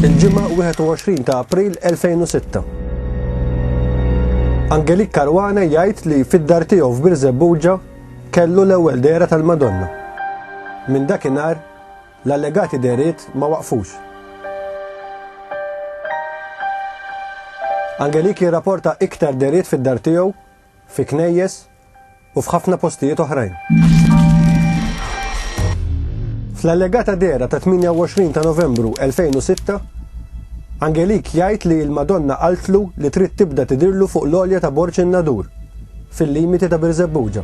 Il-Ġimgħa 21 ta' April 2006. Angelik Karwana jgħid li fid-dar tiegħu f'Birżebbuġa kellu l-ewwel dehra tal-Madonna. Minn dakinhar l-allegati dehriet ma waqfux. Angelik jirrapporta iktar dehriet fid-dar tiegħu fi knejjes u f'ħafna postijiet oħrajn. Fl-allegata dehra ta' 28 ta' Novembru 2006, Angelik jgħid li l-Madonna qaltlu li trid tibda tidirlu fuq l-olja ta' Borċ in-Nadur, fil-limiti ta' Birżebbuġa.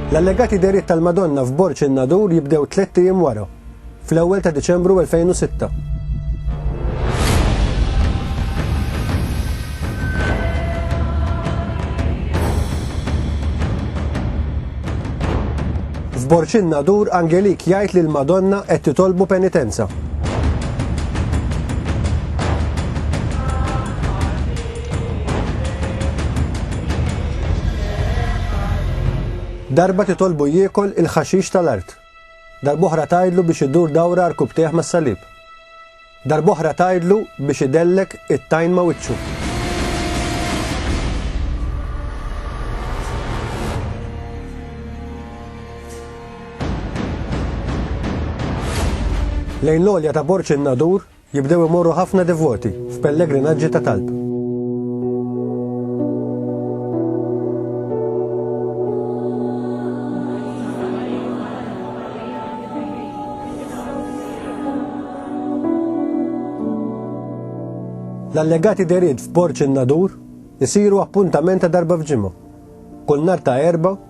L-allegati deriet tal-Madonna f'Borċ in-Nadur jibdew tliet ijiem wara. fl-ewwel ta' Diċembru 2006. F'Borċin Nadur Angelik jgħid li l-Madonna qed titolbu penitenza. Darba titolbu jiekol il-ħaxix tal-art. Darb'oħra tgħidlu biex idur dawra rkubtejh mas-salib. Darb'oħra tgħidlu biex idellek it-tajn ma' wiċċu. Lejn l-għolja ta' Borċ in-Nadur, Jibdew imorru ħafna devoti f'pellegrinaġġi ta' talb. L-allegati derid f'Borċ in-Nadur isiru appuntament ta' darba f'ġimgħa. Kull nhar ta' Erbgħa